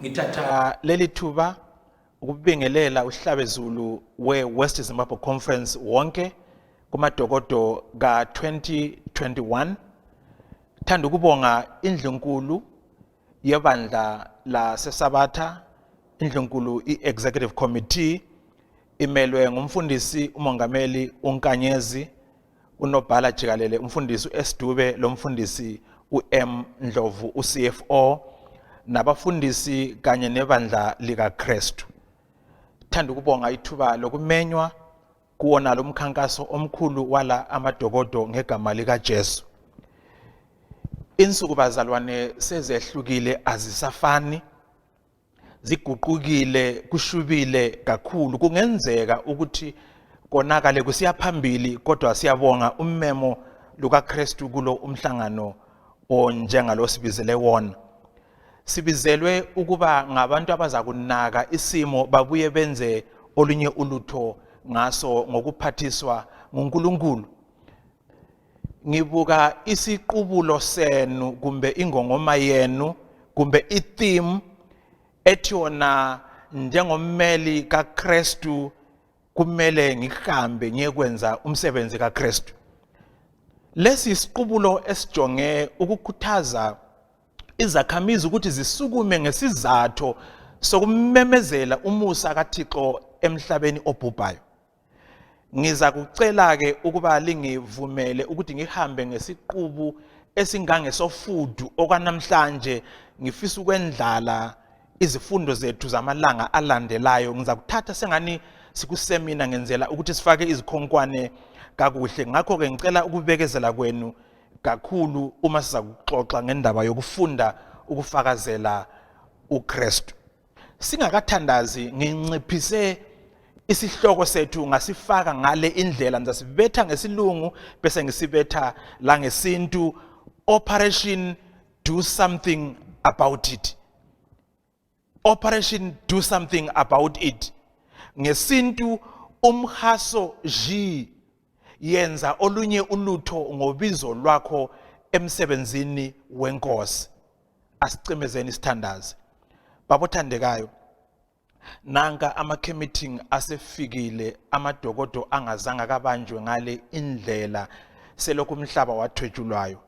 Ngithatha leli thuba ukubingelela uhlabezulu we-West Zimbabwe Conference wonke kumadokodo ka-2021 thanda ukubonga indlunkulu yebandla lasesabatha indlunkulu i-executive committee imelwe ngumfundisi umongameli unkanyezi unobhala jikalele umfundisi u-S Dube lo mfundisi u-M Ndlovu u-CFO nabafundisi kanye nebandla likaKristu. Thanda ukubonga ithuba lokumenywa kuwona lo mkhankaso omkhulu wala amadokodo ngegama likaJesu. Insuku bazalwane sezehlukile azisafani ziguqukile kushubile kakhulu kungenzeka ukuthi konakale kusiya phambili kodwa siyabonga ummemo lukaKristu kulo umhlangano onjengalo sibizele wona sibizelwe ukuba ngabantu abaza kunaka isimo babuye benze olunye ulutho ngaso ngokuphathiswa nguNkulunkulu ngibuka isiqubulo senu kumbe ingongoma yenu kumbe i-theme ethi yona njengommeli kaKristu kumele ngihambe ngiyekwenza umsebenzi kaKristu lesi isiqubulo esijonge ukukhuthaza izakhamizi ukuthi zisukume ngesizathu sokumemezela umusa kaThixo emhlabeni obhubhayo Ngiza kucela-ke ukuba lingivumele ukuthi ngihambe ngesiqubu esingangesofudu okwanamhlanje ngifisa ukwendlala izifundo zethu zamalanga alandelayo ngiza kuthatha sengani sikusemina ngenzela ukuthi sifake izikhonkwane kakuhle ngakho-ke ngicela ukubekezela kwenu kakhulu uma siza kuxoxa ngendaba yokufunda ukufakazela uKristu singakathandazi nginciphise isihloko sethu ngasifaka ngale indlela ngisasibetha ngesilungu bese ngisibetha la ngesintu operation do something about it operation do something about it ngesintu umhaso ji yenza olunye ulutho ngobizo lwakho emsebenzini wenkosi asicimezeni isithandazi babothandekayo nanka ama-committing asefikile amadokodo angazange akabanjwe ngale indlela selokhu umhlaba wathwetshulwayo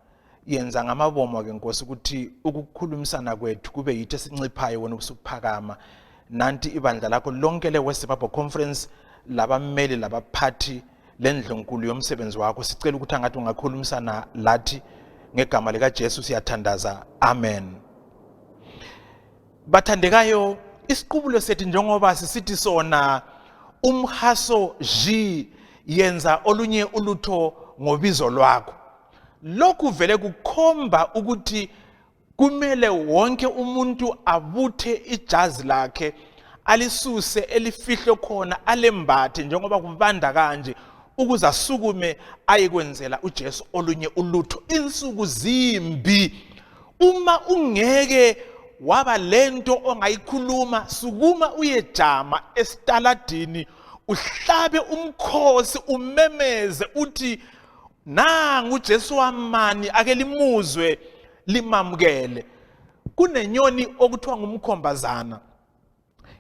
yenza ngamabomo ke nkosi ukuthi ukukhulumisana kwethu kube yithi esinciphayo wena usukuphakama nanti ibandla lakho lonke le-west zimbabwe conference labammeli labaphathi lendlunkulu yomsebenzi wakho sicela ukuthi angathi ungakhulumisana lathi ngegama likajesu siyathandaza amen bathandekayo isiqubulo sethu njengoba sisithi sona umhaso ji yenza olunye ulutho ngobizo lwakho Lokhu vele kukhomba ukuthi kumele wonke umuntu abuthe ijazi lakhe alisuse elifihlwe khona alembathe njengoba kubanda kanje ukuze asukume ayekwenzela uJesu olunye ulutho insuku zimbi uma ungeke waba lento ongayikhuluma sukuma uyejama esitaladini uhlabe umkhosi umemeze uthi nangu uJesu wamani ake limuzwe limamukele kunenyoni okuthiwa ngumkhombazana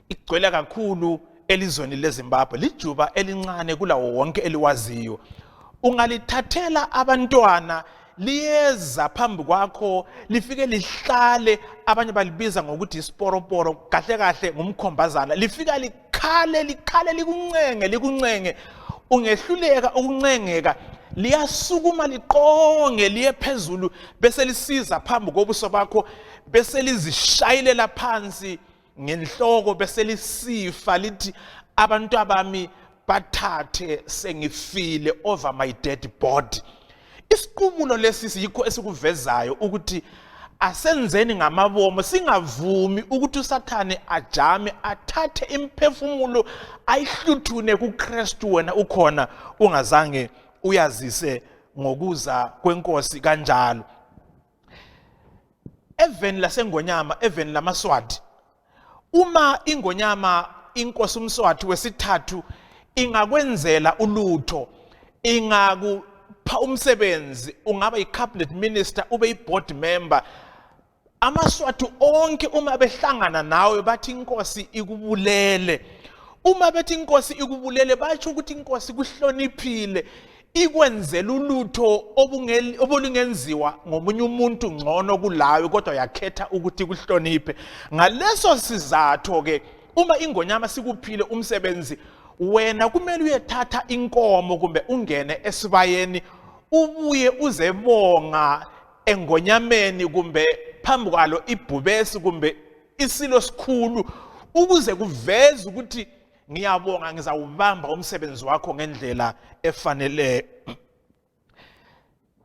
igcwele kakhulu elizweni leZimbabwe lijuba elincane kulawo wonke eliwaziyo ungalithathela abantwana liyeza phambi kwakho lifike lihlale abanye balibiza ngokuthi isiporoporo kahle kahle ngumkhombazana lifika khale likhale likuncenge likuncenge ungehluleka ukuncengeka liyasukuma liqonge liye phezulu bese lisiza phambi kobuso bakho bese lizishayelela phansi ngenhloko bese lisifa lithi abantu abami bathathe sengifile over my dead body Isiqumulo lesi yikho esikuvezayo ukuthi asenzeni ngamabomo singavumi ukuthi uSathane ajame athathe imphefumulo ayihluthune kuKristu wena ukhona ungazange uyazise ngokuza kwenkosi kanjalo eveni lasengonyama eveni lamaswati uma ingonyama inkosi umswati wesithathu ingakwenzela ulutho ingakupha umsebenzi ungaba yi-cabinet minister ube yi-board member amaswati onke uma behlangana nawe bathi inkosi ikubulele uma bethi inkosi ikubulele basho ukuthi inkosi kuhloniphile ikwenzela ulutho obulingenziwa ngomunye umuntu ngcono kulawe kodwa yakhetha ukuthi kuhloniphe ngaleso sizatho ke uma ingonyama sikuphile umsebenzi wena kumele uyethatha inkomo kumbe ungene esibayeni ubuye uzebonga engonyameni kumbe phambi kwalo ibhubesi kumbe isilo sikhulu ukuze kuveze ukuthi ngiyabonga ngizawubamba umsebenzi wakho ngendlela efanele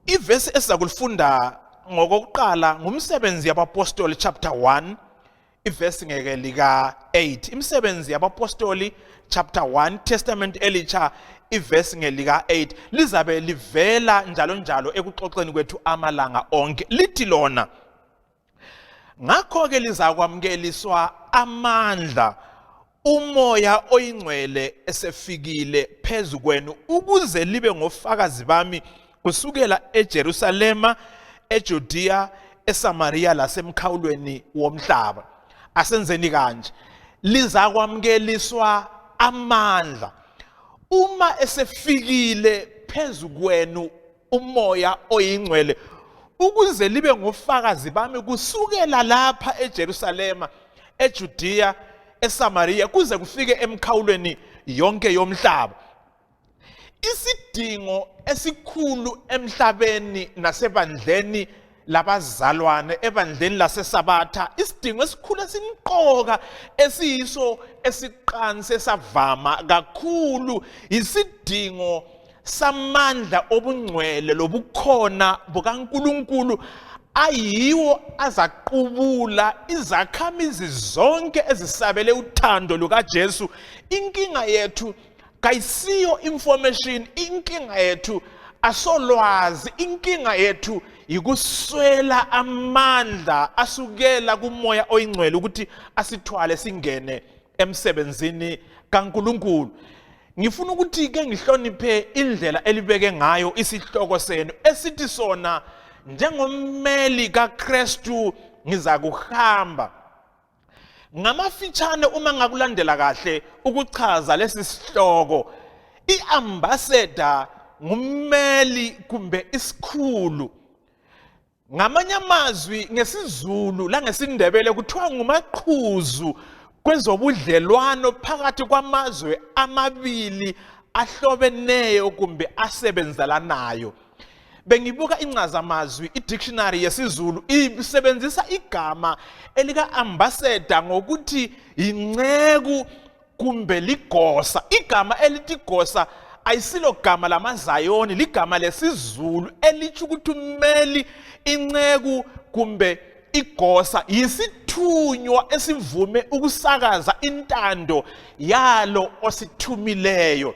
ivesi esiza kulifunda ngokokuqala ngumsebenzi yabapostoli chapter 1 ivesi ngeke lika 8 imisebenzi yabapostoli chapter 1 testament elicha ivesi ngelika 8 lizabe livela njalo njalo ekuxoxeni kwethu amalanga onke lithi lona Ngakho-ke lizakwamukeliswa amandla umoya oyingcwele esefikile phezu kwenu ukuze libe ngofakazi bami kusukela eJerusalema, eJudiya, eSamariya lasemkhawulweni womhlaba. Asenzeni kanje. Lizakwamukeliswa amandla uma esefikile phezu kwenu umoya oyingcwele ukuze libe ngofakazi bami kusukela lapha eJerusalema eJudiya eSamariya kuze kufike emkhawulweni yonke yomhlaba isidingo esikhulu emhlabeni nasebandleni labazalwane ebandleni lasesabatha isidingo esikhulu esimqoka esiyiso esiqansi esavama kakhulu yisidingo samandla obungcwele lobukhona bukaNkuluNkulu ayiwo azaqubula izakhamizi zonke ezisabele uthando lukaJesu inkinga yethu kayisiyo information inkinga yethu asolwazi inkinga yethu yikuswela amandla asukela kumoya oyingcwele ukuthi asithwale singene emsebenzini kaNkuluNkulu ngifuna ukuthi ke ngihloniphe indlela elibeke ngayo isihloko senu esithi sona njengommeli kaKristu ngizakuhamba Ngamafitshane uma ngakulandela kahle ukuchaza lesi sihloko iambassador ngummeli kumbe isikhulu ngamanye amazwi ngesizulu langesindebele kuthiwa ngumaqhuzu kwezobudlelwano phakathi kwamazwe amabili ahlobeneyo kumbe asebenzelanayo bengibuka incazamazwi i-dictionary yesiZulu isebenzisa igama elika-ambassador ngokuthi yinceku kumbe ligosa igama elithi gosa ayisilo gama lamazayoni ligama lesiZulu elithi ukuthi umeli inceku kumbe igosa yisithunywa esivume ukusakaza intando yalo osithumileyo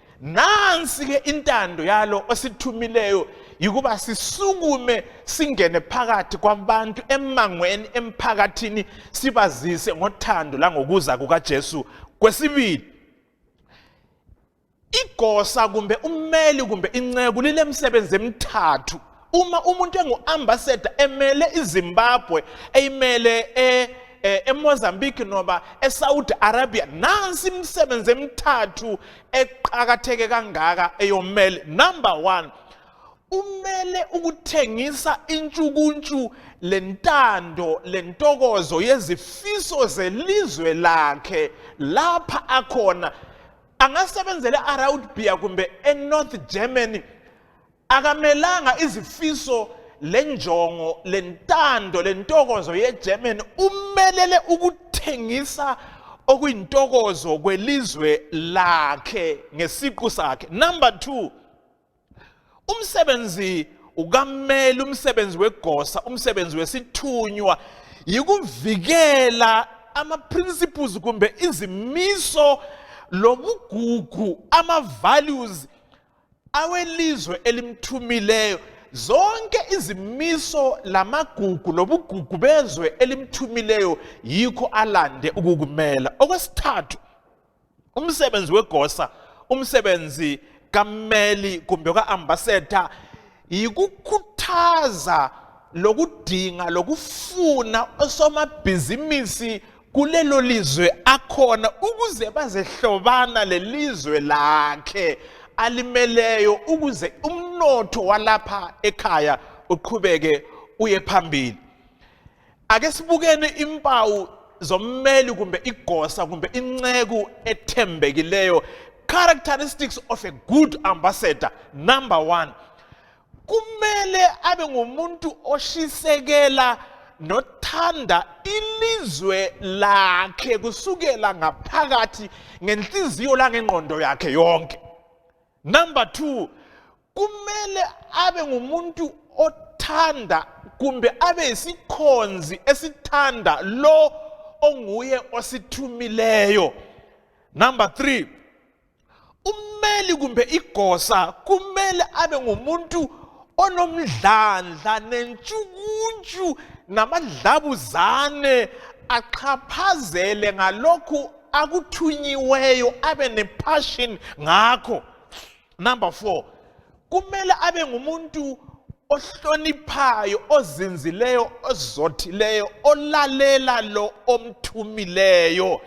nansi-ke intando yalo osithumileyo yikuba sisukume singene phakathi kwabantu emangweni emphakathini sibazise ngothando langokuza kukaJesu kwesibili igosa kumbe ummeli kumbe inceku lilemsebenzi emithathu uma umuntu engu-ambassador emele izimbabwe eyimele e, e, emozambique noba esaudi arabia nansi imisebenzi emithathu eqakatheke kangaka eyomele number one umele ukuthengisa intshukuntshu lentando lentokozo yezifiso zelizwe lakhe lapha akhona angasebenzela eArabia kumbe eNorth Germany akamelanga izifiso lenjongo lentando lentokozo yeGerman umelele ukuthengisa okuyintokozo kwelizwe lakhe ngesiqu sakhe number 2 umsebenzi ukamele umsebenzi wegosa umsebenzi wesithunywa yikuvikela ama principles kumbe izimiso lobugugu ama values awelizwe elimthumileyo zonke izimiso lamagugu lobugugu bezwe elimthumileyo yikho alande ukukumela okwesithathu umsebenzi wegosa umsebenzi kammeli kumbe ka-ambasador yikukhuthaza lokudinga lokufuna osomabhizimisi kulelo lizwe akhona ukuze bazehlobana lelizwe lakhe alimeleyo ukuze umnotho walapha ekhaya uqhubeke uye phambili ake sibukeni impawu zommeli kumbe igosa kumbe inceku ethembekileyo characteristics of a good ambassador number one kumele abe ngumuntu oshisekela nothanda ilizwe lakhe kusukela ngaphakathi ngenhliziyo langengqondo yakhe yonke number two kumele abe ngumuntu othanda kumbe abe yisikhonzi esithanda lo onguye osithumileyo number three ummeli kumbe igosa kumele abe ngumuntu onomdlandla nentshukuntshu namadlabuzane axhaphazele ngalokhu akuthunyiweyo abe nepassion ngakho number 4 kumele abe ngumuntu ohloniphayo ozinzileyo ozothileyo olalela lo omthumileyo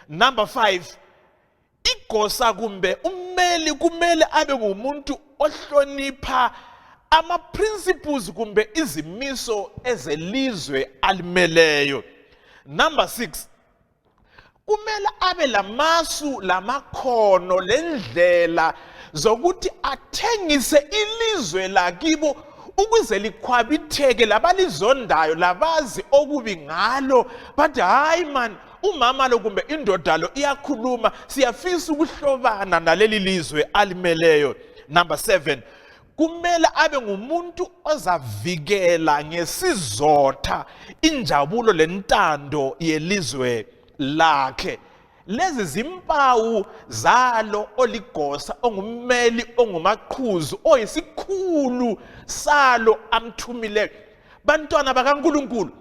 number 5 igosa kumbe ummeli kumele abe ngumuntu ohlonipha ama principles kumbe izimiso ezelizwe alimeleyo number 6 kumele abe lamasu lamakhono lendlela zokuthi athengise ilizwe lakibo ukuze likhwabitheke labalizondayo labazi okubi ngalo bathi hayi mani umama lo kumbe indoda lo iyakhuluma siyafisa ukuhlobana naleli lizwe alimeleyo number 7 kumele abe ngumuntu ozavikela ngesizotha injabulo lentando yelizwe lakhe lezi zimpawu zalo oligosa ongummeli ongumaqhuzu oyisikhulu salo amthumile bantwana bakaNkuluNkulu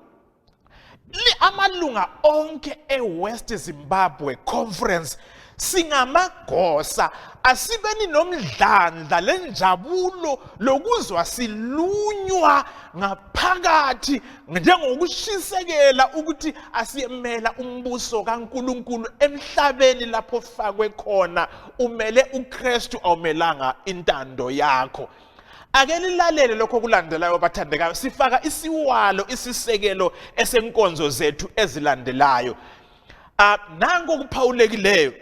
amalunga onke ewest zimbabwe conference singamagosa asibeni nomdlandla lenjabulo lokuzwa silunywa ngaphakathi njengokushisekela ukuthi asiyemela umbuso kaNkuluNkulu emhlabeni lapho fakwe khona umele uKristu awumelanga intando yakho Ake nilalele lokho kulandelayo bathandekayo sifaka isiwalo isisekelo esenkonzo zethu ezilandelayo. Ah nanku okuphawulekileyo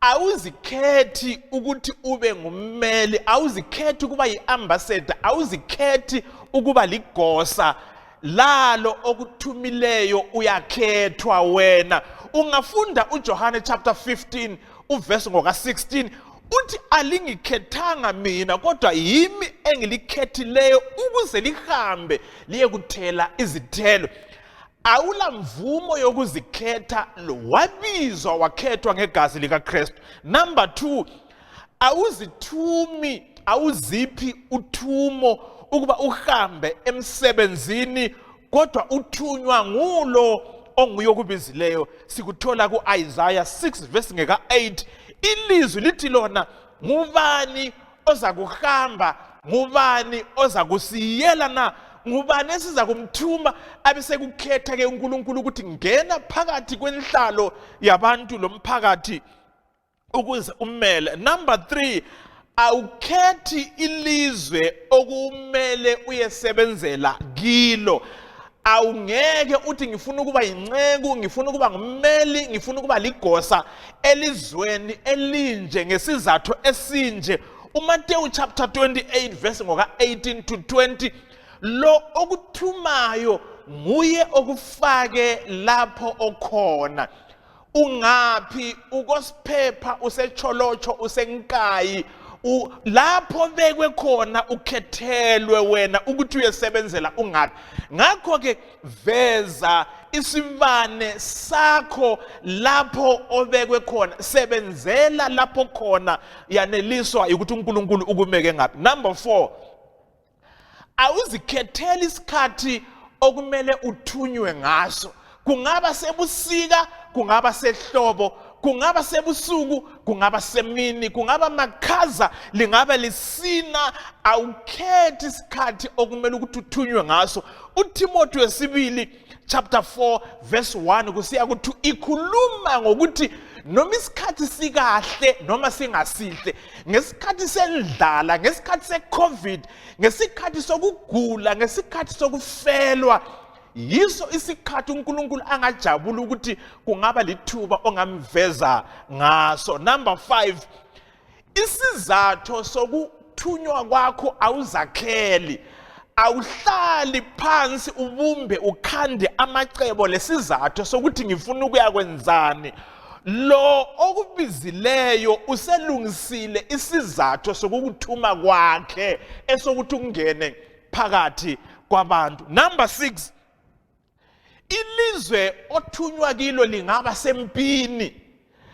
awuzikhethi ukuthi ube ngummeli awuzikhethi ukuba yi-ambassador awuzikhethi ukuba ligosa lalo okuthumileyo uyakhethwa wena ungafunda uJohane chapter 15 uvesi ngoka-16 uthi alingikhethanga mina kodwa yimi engilikhethileyo ukuze lihambe liye kuthela izithelo awula mvumo yokuzikhetha wabizwa wakhethwa ngegazi likaKristu number 2 awuzithumi awuziphi uthumo ukuba uhambe emsebenzini kodwa uthunywa ngulo onguye okubizileyo sikuthola ku-isaya 6 vesi ngeka-8 ilizwi lithi lona ngubani oza kuhamba ngubani oza kusiyela na ngubani esiza kumthuma abesekukhetha ke uNkulunkulu ukuthi ngena phakathi kwenhlalo yabantu lomphakathi ukuze umele number 3 awukhethi ilizwe okumele uyesebenzela kilo awungeke uthi ngifuna ukuba yinceku ngifuna ukuba ngummeli ngifuna ukuba ligosa elizweni elinje ngesizathu esinje uMateyu chapter 28 verse ngoka 18 to 20 lo okuthumayo nguye okufake lapho okhona ungaphi ukosiphepha usecholotsho usenkayi lapho bekwe khona ukhethelwe wena ukuthi uyesebenzela ungaphi ngakho ke veza isibane sakho lapho obekwe khona sebenzela lapho khona yaneliswa ukuthi uNkulunkulu ukumeke ngaphi number 4 awuzikhetheli isikhathi okumele uthunywe ngaso kungaba sebusika kungaba sehlobo kungaba sebusuku kungaba semini kungaba makhaza lingaba lisina awukhethi isikhathi okumele ukuthi uthunywe ngaso uThimothi wesibili chapter 4 verse 1 kusiya ku-2 ikhuluma ngokuthi noma isikhathi sikahle noma singasihle ngesikhathi sendlala ngesikhathi secovid ngesikhathi sokugula ngesikhathi sokufelwa yiso isikhathi uNkulunkulu angajabula ukuthi kungaba lithuba ongamveza ngaso number 5 isizatho sokuthunywa kwakho awuzakheli awuhlali phansi ubumbe ukhande amacebo lesizathu sokuthi ngifuna ukuya kwenzani lo okubizileyo uselungisile isizathu sokukuthuma kwakhe esokuthi ungene phakathi kwabantu number 6 ilizwe othunywa kilo lingaba sempini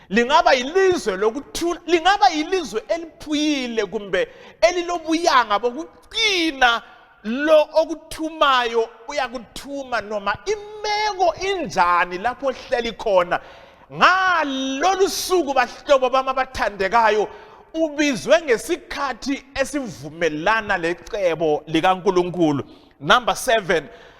lingaba ilizwe lokuthula lingaba ilizwe eliphuyile kumbe elilobuyanga bokuqina lo okuthumayo uyakuthuma noma imeko injani lapho ohleli khona ngalolu suku bahlobo bami abathandekayo ubizwe ngesikhathi esivumelana lecebo likaNkuluNkulu number 7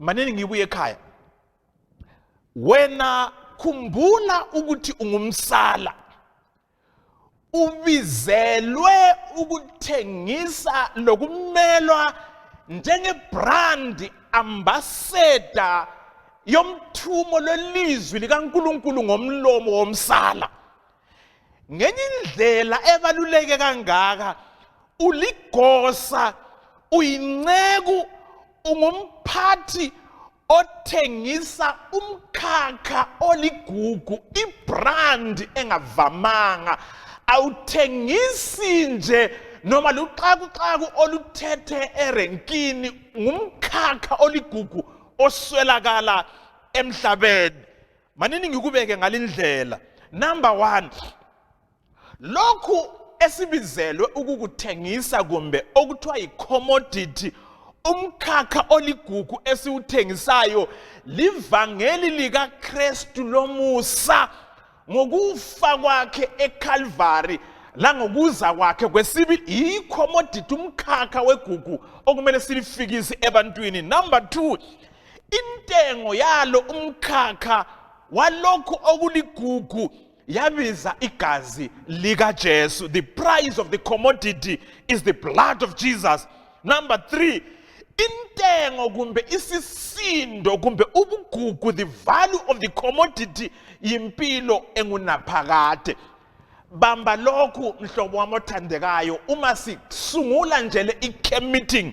manini ngibuye ekhaya wena khumbula ukuthi ungumsala ubizelwe ukuthengisa lokumelwa njengebrandi ambassador yomthumo lwelizwi likaNkuluNkulu ngomlomo womsala ngenye indlela ebaluleke kangaka uligosa uyinceku ungumphathi othengisa umkhakha oligugu ibrand engavamanga awuthengisi nje noma luxakuxaku oluthethe erenkini ngumkhakha oligugu oswelakala emhlabeni manini ngikubeke ngalindlela number 1 lokhu esibizelwe ukukuthengisa kumbe okuthiwa yicommodity umkhakha oligugu esiwuthengisayo livangeli likaKristu lomusa ngokufa kwakhe eKalvari langokuza kwakhe kwesibili yicommodity umkhakha wegugu okumele silifikise ebantwini number 2 Intengo yalo umkhakha walokhu okuligugu yabiza igazi likaJesu. The price of the commodity is the blood of Jesus. Number 3 intengo kumbe isisindo kumbe ubugugu the value of the commodity yimpilo engunaphakade bamba lokhu mhlobo wami othandekayo uma sisungula nje le i-camp meeting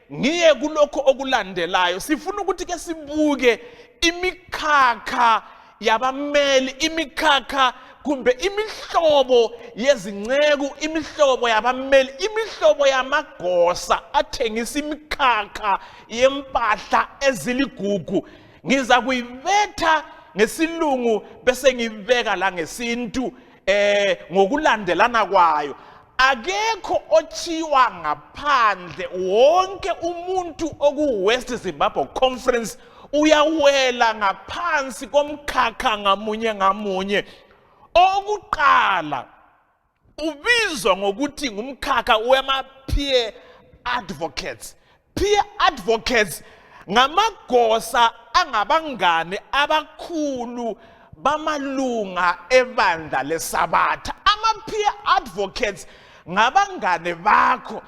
Ngiye kulokho okulandelayo sifuna ukuthi ke sibuke imikhakha yabameli imikhakha kumbe imihlobo yezinceku imihlobo yabameli imihlobo yamagosa athengisa imikhakha yempahla eziligugu ngiza kuyibetha ngesilungu bese ngibeka la ngesintu eh ngokulandelana kwayo akekho othiwa ngaphandle wonke umuntu okuwest zimbabwe conference uyawela ngaphansi komkhakha ngamunye ngamunye okuqala ubizwa ngokuthi ngumkhakha wema-peer advocates Peer advocates ngamagosa angabangane abakhulu bamalunga ebandla lesabatha ama-peer advocates ngabangane bakho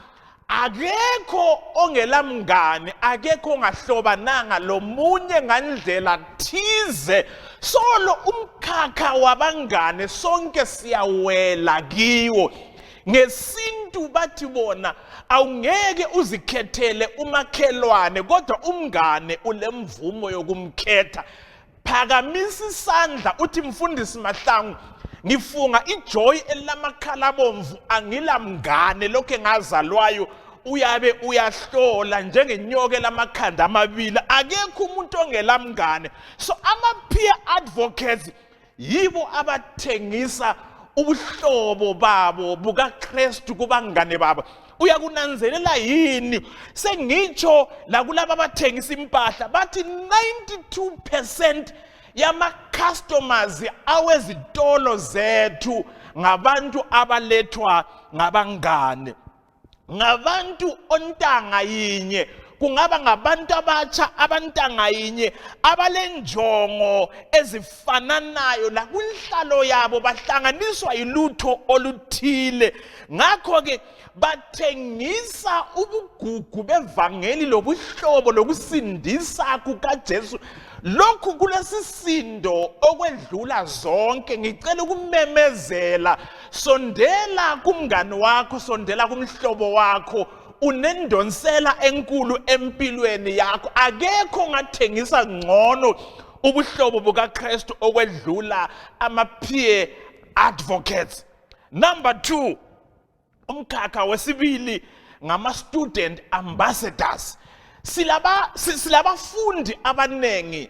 akekho ongelamngane akekho ongahlobananga lomunye ngandlela thize solo umkhakha wabangane sonke siyawela kiwo ngesintu bathi bona awungeke uzikhethele umakhelwane kodwa umngane ulemvumo yokumkhetha phakamisa isandla uthi mfundisi mahlangu ngifunga ijoy elilamakhala bomvu angilamngane lokho engazalwayo uyabe uyahlola njengenyoke lamakhanda amabili akekho umuntu ongelamngane so ama peer advocates yibo abathengisa ubuhlobo babo bukaKristu kubangane babo uyakunanzelela yini sengitsho lakulabo abathengisa impahla bathi 92% yama-customers awezitolo zethu ngabantu abalethwa ngabangane ngabantu ontanga yinye kungaba ngabantu abatsha abantanga yinye abalenjongo ezifananayo lakunhlalo yabo bahlanganiswa yilutho oluthile ngakho ke bathengisa ubugugu bevangeli lobuhlobo lokusindisa kukaJesu lokhu kulesisindo okwedlula zonke ngicela ukumemezela sondela kumngani wakho sondela kumhlobo wakho unendonsela enkulu empilweni yakho akekho ngathengisa ngcono ubuhlobo bukaKristu okwedlula ama peer advocates number 2 umkhakha wesibili ngama student ambassadors silaba silabafundi abanengi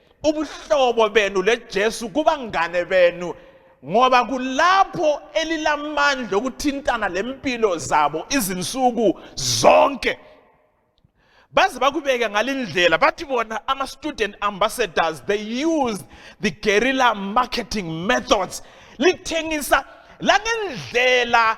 ubuhlobo benu leJesu kubangane benu ngoba kulapho elilamandla okuthintana lempilo zabo izinsuku zonke baze bakubeke ngalindlela bathi bona ama student ambassadors they use the guerrilla marketing methods lithengisa langendlela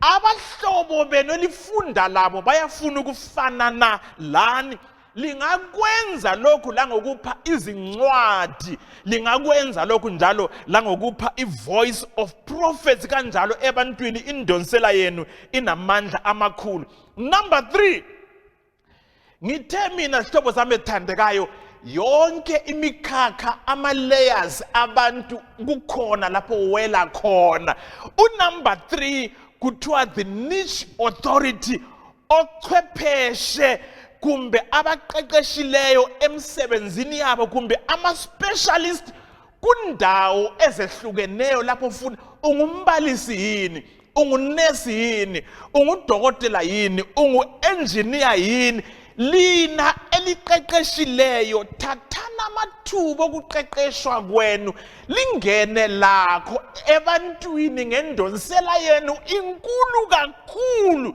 Abahlobo benu elifunda labo bayafuna ukufanana lani. Lingakwenza lokhu la ngokupha izincwadi, lingakwenza lokhu njalo la ngokupha i-voice of prophets kanjalo ebantwini indonsela yenu inamandla amakhulu. Number 3 ngithe mina zihlobo zami ezithandekayo yonke imikhakha ama-layers abantu kukhona lapho wela khona unumber three kuthiwa the niche authority ochwepheshe kumbe abaqeqeshileyo emsebenzini yabo kumbe ama-specialist kundawo ezehlukeneyo lapho ufuna ungumbalisi yini ungunesi yini ungudokotela yini ungu-enjiniya yini lina eliqeqeshileyo thathani amathuba okuqeqeshwa kwenu lingene lakho ebantwini ngendonsela yenu inkulu kakhulu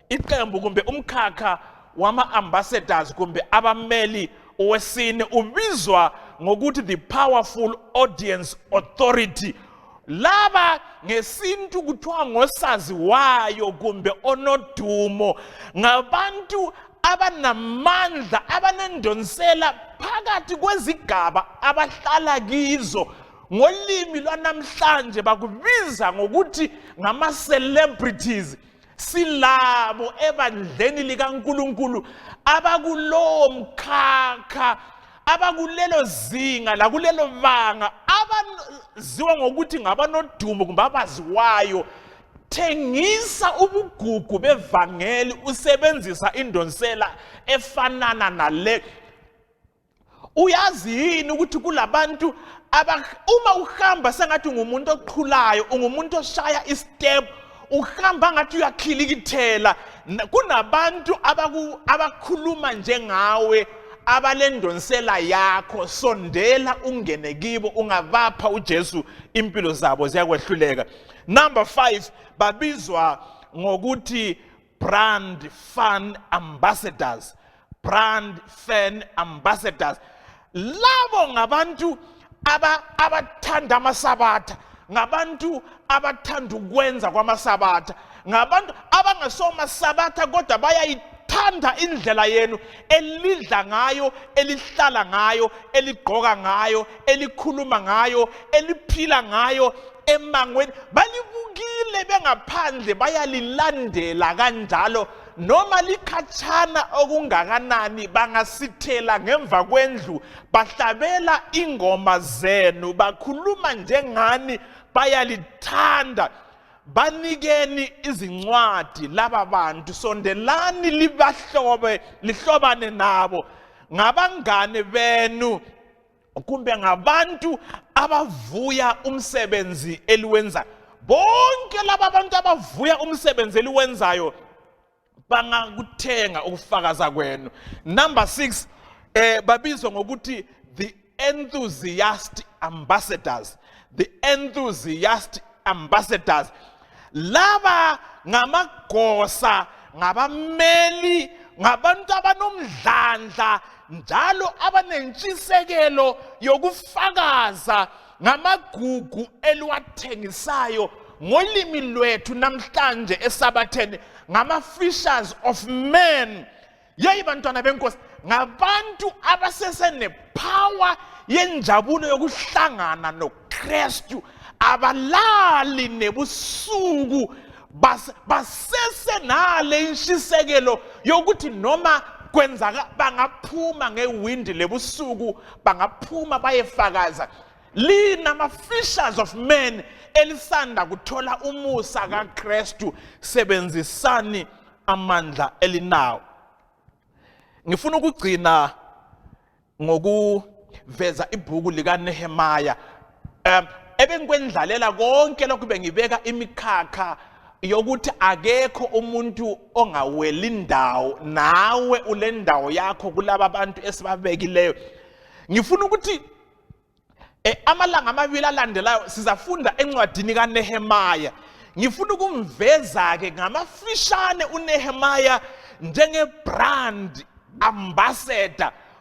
iqembu kumbe umkhakha wama-ambassadors kumbe abameli wesine ubizwa ngokuthi the powerful audience authority laba ngesintu kuthiwa ngosaziwayo kumbe onodumo ngabantu abanamandla abanendonsela phakathi kwezigaba abahlala kizo ngolimi lwanamhlanje bakubiza ngokuthi ngama-celebrities silabo ebandleni likaNkuluNkulu abakulowo mkhakha abakulelo zinga lakulelo banga abaziwa ngokuthi ngabanodumo kumbe abaziwayo thengisa ubugugu bevangeli usebenzisa indonsela efanana nale uyazi yini ukuthi kulabantu uma uhamba sengathi ungumuntu oqhulayo ungumuntu oshaya istep uhamba ngathi uyakhilikithela kunabantu abakhuluma njengawe abalendonsela yakho sondela ungene kibo ungabapha uJesu impilo zabo ziyakwehluleka number 5 babizwa ngokuthi brand fan ambassadors brand fan ambassadors labo ngabantu abathanda amasabatha ngabantu abathanda ukwenza kwamasabatha ngabantu abangesomasabatha kodwa bayayithanda indlela yenu elidla ngayo elihlala ngayo eligqoka ngayo elikhuluma ngayo eliphila ngayo emangweni balibukile bengaphandle bayalilandela kanjalo noma likhatshana okungakanani bangasithela ngemva kwendlu bahlabela ingoma zenu bakhuluma njengani bayalithanda banikeni izincwadi laba bantu sondelani libahlobe lihlobane nabo ngabangane benu kumbe ngabantu abavuya umsebenzi eliwenzayo bonke laba bantu abavuya umsebenzi eliwenzayo bangakuthenga ukufakaza kwenu number 6 eh babizwa ngokuthi the enthusiast ambassadors the enthusiast ambassadors laba ngamagosa ngabameli ngabantu abanomdlandla njalo abanentshisekelo yokufakaza ngamagugu eliwathengisayo ngolimi lwethu namhlanje esabatheni ngama-fishers of men yeyi bantwana benkosi ngabantu abasesenepower yenjabulo yokuhlangana nokristu abalali nebusuku basesenale inshisekelo yokuthi noma kwenzaka bangaphuma ngewindi lebusuku bangaphuma bayefakaza linama fishers of men elisanda kuthola umusa kaKristu sebenzisani amandla elinawo ngifuna ukugcina ngokuveza ibhuku likaNehemiah um ebengikwendlalela konke lokhu bengibeka imikhakha yokuthi akekho umuntu ongaweli indawo nawe ule ndawo yakho kulaba bantu esibabekileyo ngifuna ukuthi eh, amalanga amabili alandelayo sizafunda encwadini kaNehemaya ngifuna ukumveza ke ngamafishane uNehemaya njenge brand ambassador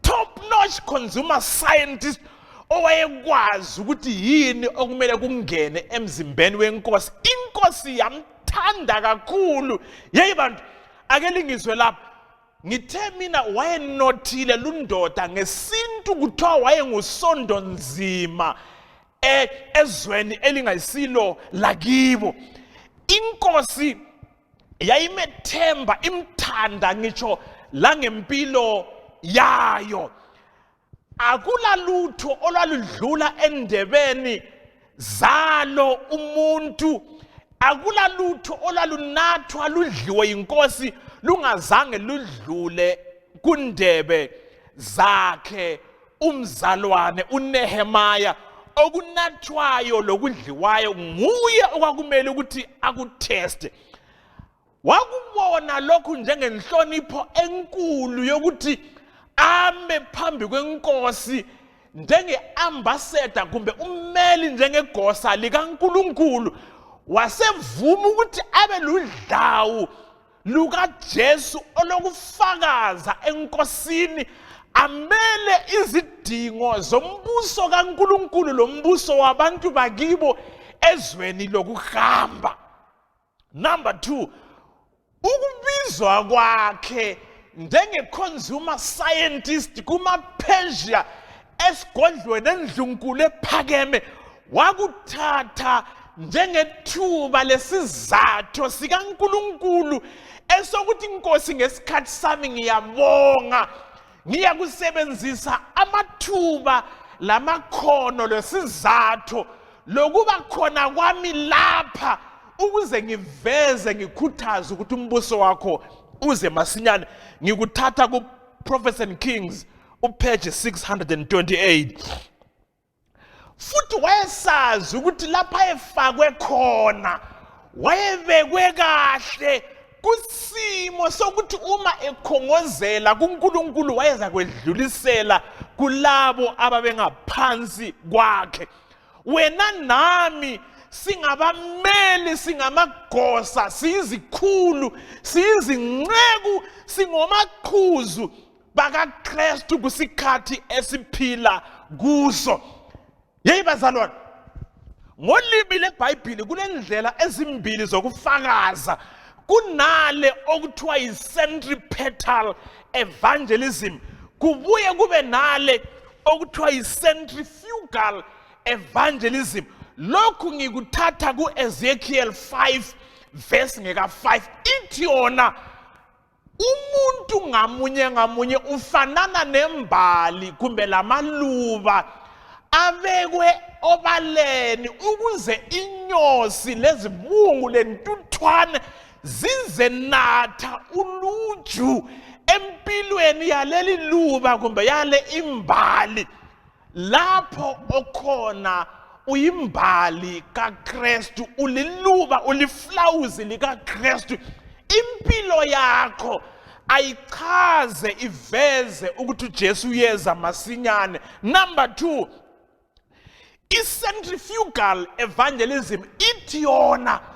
top notch consumer scientist owayekwazi ukuthi yini okumele kungene emzimbeni wenkosi inkosi yamthanda kakhulu yeyi bantu ake lingizwe lapha ngithe mina wayenothile lundoda ngesintu kuthiwa wayengusondo nzima e, ezweni elingasilo lakibo inkosi yayimethemba imthanda ngisho la ngempilo yayo akulalutho olwaludlula endebeni zalo umuntu akulalutho olwalunathwa ludliwe inkosi lungazange ludlule kundebe zakhe umzalwane uNehemaya okunathwayo lokudliwayo nguye okwakumele ukuthi akutheste wakubona lokhu njengenhlonipho enkulu yokuthi ame phambi kwenkosi njenge-ambassador kumbe ummeli njengegosa likankulunkulu wasevuma ukuthi abe ludlawu lukaJesu olokufakaza enkosini amele izidingo zombuso kaNkuluNkulu lombuso wabantu bakibo ezweni lokuhamba number 2 ukubizwa kwakhe njenge-consumer scientist kuma-persia esigondlweni endlunkulu ephakeme wakuthatha njengethuba lesizathu sikaNkuluNkulu esokuthi inkosi ngesikhathi sami ngiyabonga ngiyakusebenzisa amathuba lamakhono lesizathu lokuba khona kwami lapha ukuze ngiveze ngikhuthaze ukuthi umbuso wakho uze masinyane ngikuthatha ku Prophets and Kings upage 628 futhi wayesazi ukuthi lapha efakwe khona wayebekwe kahle kusimo sokuthi uma ekhongozela kuNkulunkulu wayeza kwedlulisela kulabo ababengaphansi kwakhe wena nami singabameli singamagosa siyizikhulu siyizinceku singomaqhuzu bakaKristu kusikhathi esiphila kuso yeyi bazalwane ngolimi lebhayibhili kunendlela ezimbili zokufakaza kunale okuthiwa yi-centripetal evangelism kubuye kube nale okuthiwa yi-centrifugal evangelism lokhu ngikuthatha ku-ezekiel 5 verse ngeka-5 ithi yona umuntu ngamunye ngamunye ufanana nembali kumbe lamaluba abekwe obaleni ukuze inyosi lezibungu lentuthwane zizenatha uluju empilweni yaleli luba kumbe yale imbali lapho okhona uyimbali kaKristu uliluba uliflawuzi likaKristu impilo yakho ayichaze iveze ukuthi uJesu uyeza masinyane number 2 icentrifugal evangelism ithi yona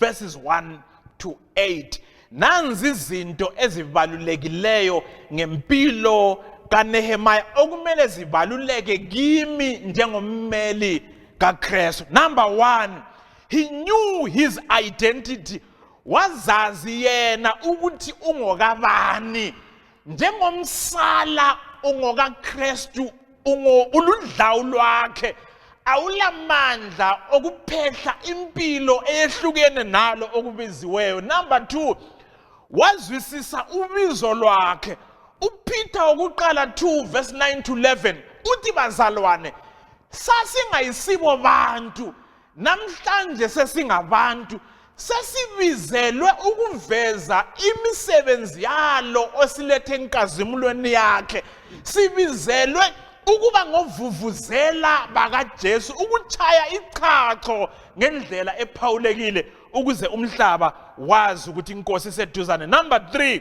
verses 1 to 8 nanzi izinto ezibalulekileyo ngempilo kaNehemiah okumele zibaluleke kimi njengommeli kaKristu number 1 he knew his identity wazazi yena ukuthi ungokabani njengomsala ungokaKristu ungo uludlawu lwakhe awulamandla okuphehla impilo eyehlukene nalo okubiziweyo number 2 wazwisisa ubizo lwakhe uPeter okuqala 2 verse 9 to 11 uthi bazalwane sasingayisibo bantu Namhlanje sesingabantu sesibizelwe ukuveza imisebenzi yalo osilethe enkazimulweni yakhe sibizelwe ukuba ngovuvuzela bakaJesu ukuchaya ichacho ngendlela ephawulekile ukuze umhlaba wazi ukuthi inkosi iseduzane number 3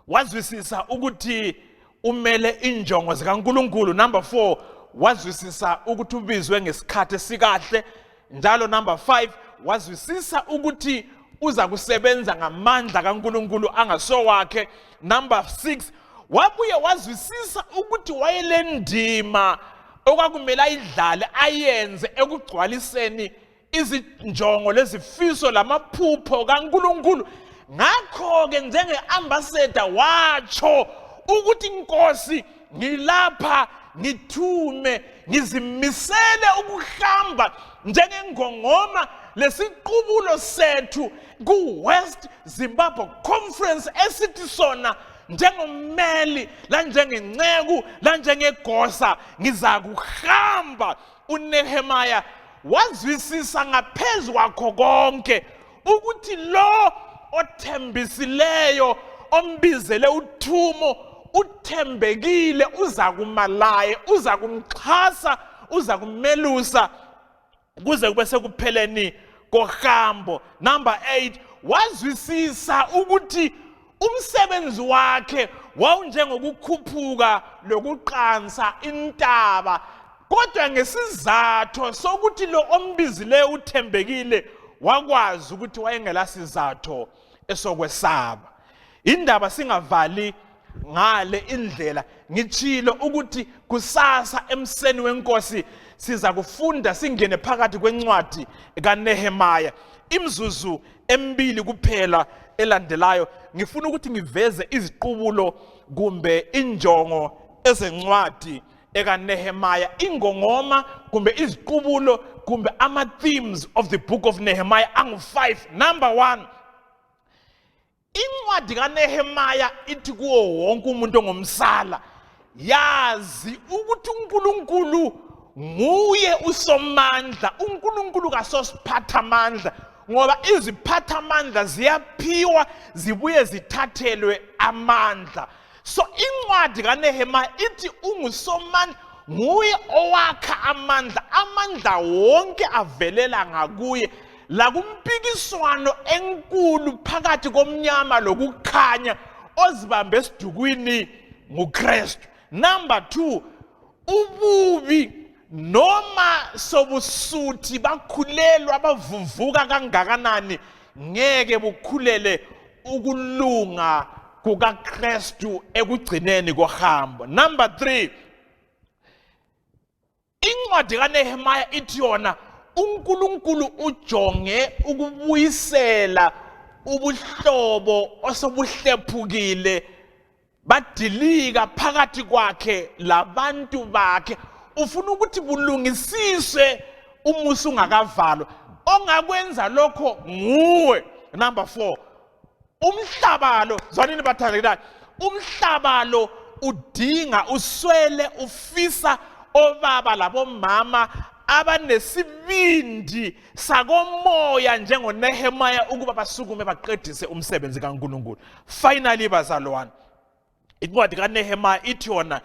wazwisisa ukuthi umele injongo zikaNkuluNkulu number 4 wazwisisa ukuthi ubizwe ngesikhathi esikahle njalo number 5 wazwisisa ukuthi uza kusebenza ngamandla kaNkuluNkulu angasowakhe number 6 wabuye wazwisisa ukuthi wayelendima okwakumele ayidlale ayenze ekugcwaliseni izinjongo lezifiso lamaphupho kaNkulunkulu ngakho-ke njenge-ambassador watsho ukuthi inkosi ngilapha ngithume ngizimisele ukuhamba njengengongoma lesiqubulo sethu ku-west zimbabwe conference esithi sona njengommeli lanjengenceku lanjengegosa ngizakuhamba uNehemiah wazwisisa ngaphezu kwakho konke ukuthi lo othembisileyo ombizele uthumo uthembekile uza kuma laye uza kumxhasa uza kumelusa kuze kube sekupheleni kohambo number 8 wazwisisa ukuthi Umsebenzi wakhe wawunjengokukhuphuka lokuqansa intaba, kodwa ngesizatho sokuthi lo ombizileyo uthembekile wakwazi ukuthi wayengelasizatho esokwesaba. Indaba singavali ngale indlela ngitshilo ukuthi kusasa emseni wenkosi siza kufunda singene phakathi kwencwadi kaNehemaya imzuzu emibili kuphela elandelayo ngifuna ukuthi ngiveze iziqubulo kumbe injongo ezencwadi ekaNehemiah ingongoma kumbe iziqubulo kumbe ama themes of the book of Nehemiah angu 5 number 1 incwadi kaNehemiah ithi kuwo wonke umuntu ongomsala yazi ukuthi uNkulunkulu nguye usomandla uNkulunkulu kasosiphatha amandla ngoba iziphatha amandla ziyaphiwa zibuye zithathelwe amandla so incwadi kaNehemiah ithi ungusomandla nguye owakha amandla amandla wonke avelela ngakuye la kumpikiswano enkulu phakathi komnyama lokukhanya ozibambe esidukwini nguKristu number 2 ububi noma sobusuthi bakhulelwa bavuvuka kangakanani ngeke bukhulele ukulunga kukaKristu ekugcineni kohambo number 3 Incwadi kaNehemiah ithi yona uNkulunkulu ujonge ukubuyisela ubuhlobo osobuhlephukile badilika phakathi kwakhe labantu bakhe ufuna ukuthi bulungisiswe umusa ungakavalwa ongakwenza lokho nguwe number 4 umhlaba lo zwanini bathandekayo umhlaba lo udinga uswele ufisa obaba labomama abanesibindi sakomoya njengonehemaya ukuba basukume baqedise umsebenzi kankulunkulu finally bazalwane incwadi kaNehemiah ithi yona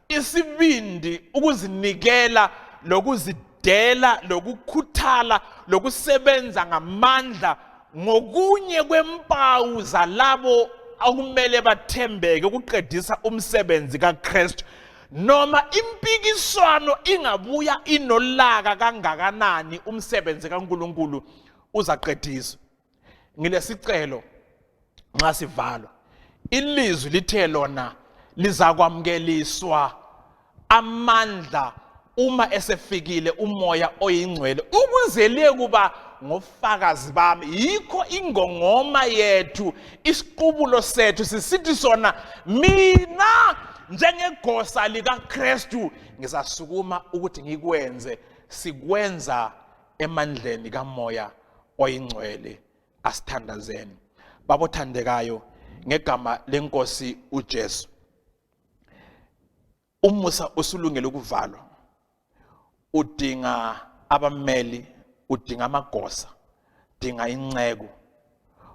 isibindi ukuzinikela lokuzidela lokukhuthala lokusebenza ngamandla ngokunye kwempawu zalabo okumele bathembeke ukuqedisa umsebenzi kaKristu noma impikiswano ingabuya inolaka kangakanani umsebenzi kaNkuluNkulu uzaqediswa ngilesicelo nxa sivalwa ilizwi lithe lona lizakwamukeliswa amandla uma esefikile umoya oyingcwele ukuze liye kuba ngofakazi bami yikho ingongoma yethu isiqubulo sethu sisithi sona mina njengegosa likaKristu ngizasukuma ukuthi ngikwenze sikwenza emandleni kamoya oyingcwele asithandazeni babothandekayo ngegama lenkosi uJesu umusa usulungele ukuvalwa udinga abameli udinga amagosa dinga inceku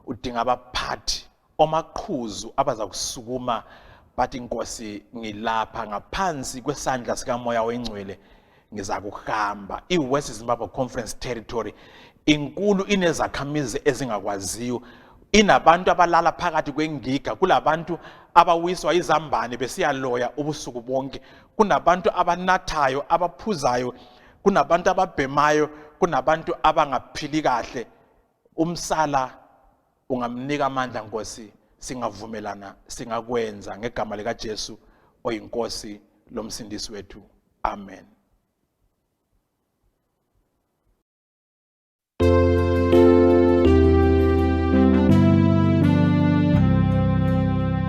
udinga abaphathi omaqhuzu abaza kusukuma bathi inkosi ngilapha ngaphansi kwesandla sikamoya oyingcwele ngiza kuhamba i-west zimbabwe conference territory inkulu inezakhamizi ezingakwaziyo inabantu abalala phakathi kwengiga kulabantu abawiswa izambane besiyaloya ubusuku bonke kunabantu abanathayo abaphuzayo kunabantu ababhemayo kunabantu abangaphili kahle Umsala ungamnika amandla Nkosi singavumelana singakwenza ngegama lika Jesu oyinkosi lomsindisi wethu amen